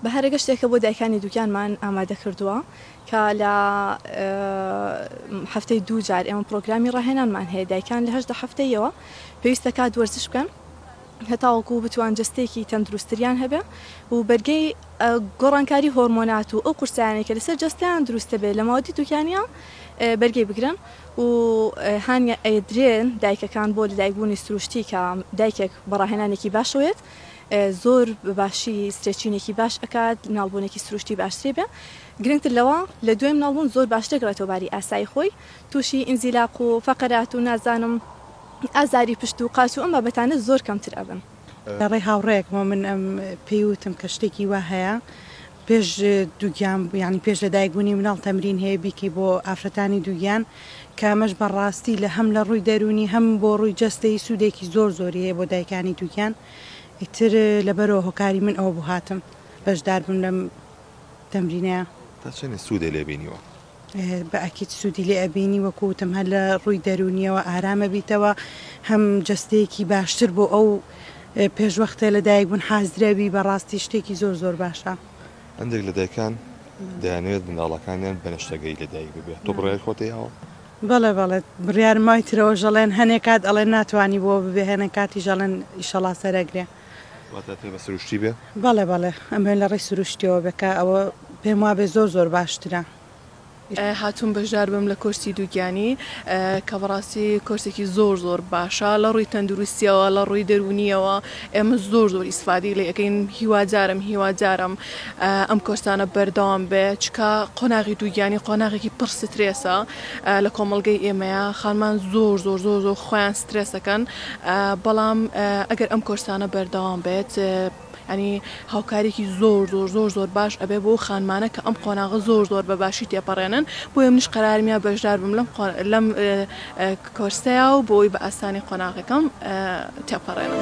بەهارەگە شتێکە بۆ دایکانی دووگیانمان ئامادەکردووە کە لە هەفتەی دوو جار ئێمە پرۆگرامی ڕاهێنانمان هەیە دایکان لە هەشدە هەفتەیەوە پێویستە کات وەرزش بکەن هەتاوەکو بتوان جستێکی تەندروستریان هەبێ و بەرگەی گۆڕانکاری هۆرمۆنات و ئەو قورسیانێک کە لەسەر جستیان دروستە بێت لە ماوەتی دوکیانە بەرگەی بگرن و هاانیە ئەدرێن دایکەکان بۆ لەدایکبوونی سروشتی کە دایکێک بەڕاهێنانێکی باشەوێت زۆر بە باشی سترێچینێکی باش ئەکات ناڵبونێکی سروشتی باشتری بێ گرنگتر لەوە لە دوێم ناڵبون زۆر باش دەگڕێتەوە باری ئاسایی خۆی تووشی ئینزیلاق و فەقەرات و نازانم ئازاری پشت و قاچ و ئەم بابەتانە زۆر کەمتر ئەبن. لە ڕێی هاوڕێیەکمەوە من پێی وتم کە شتێکی وا هەیە پێش دووگیان یانی پێش لە دایک بوونی مناڵ تەمرین هەیە بیکەی بۆ ئافرەتانی دووگیان کە ئەمەش بەڕاستی لە هەم لە ڕووی دەروونی هەم بۆ ڕووی جەستەی سوودێکی زۆر زۆری هەیە بۆ دایکانی دووگیان ئیتر لەبەرەوە هۆکاری من ئەوە بوو هاتم بەشدار بم لەم تەمرینەیە. تا چەنێ سوودێ لێ بینیوە؟ بە ئەکید سوودی لێ ئەبینی وەکو وتم هەر لە ڕووی دەروونیەوە ئارام ئەبیتەوە هەم جەستەیەکی باشتر بۆ ئەو پێشوەختە لە دایک بوون حازر ئەبی بەڕاستی شتێکی زۆر زۆر باشە. هەندێک لە دایکان دەیانەوێت منداڵەکانیان بە نەشتەگەری لە دایک ببێت تۆ بڕیاری خۆت دەیاوە؟ بەڵێ بەڵێ بڕیارم مای ترەوەش ئەڵێن هەنێ کات ئەڵێن ناتوانی بۆ ببێ هەنێ کاتیش ئەڵێن ئیشەڵا سەرەگرێ. واتە پێ بە سروشتی بێ؟ بەڵێ بەڵێ ئەمەوێ لە ڕێی سروشتیەوە بێ کە ئەوە پێم وابێ زۆر زۆر باشترە. هاتووم بەژدار بم لە کۆرسی دووگیانی کە بەڕاستی کۆرسێکی زۆر زۆر باشە لە ڕووی تەندروستیەوە لە ڕووی دەروونیەوە ئێمە زۆر زۆر ئیسفادی لێ ئەەکەین هیوادارم هیوادارم ئەم کۆرسانە بەردەوام بێ چکە قۆناغی دووگیانی قۆناغێکی پڕ سترێسە لە کۆمەڵگەی ئێمەیە خانمان زۆر زۆر زۆر زۆر خۆیان سترێسەکەن بەڵام ئەگەر ئەم کۆرسانە بەردەوام بێت ینی هاوکارێکی زۆر زۆر زۆر زۆر باش ئەبێ بۆ خانمانە کە ئەم قۆناغە زۆر زۆر بە باشی تێپەڕێنن بۆیە منیش قەرارمیا بەشدار بم لەم لەم کۆرسەیە و بۆی بە ئاسانی قۆناغەکەم تێپەڕێنم.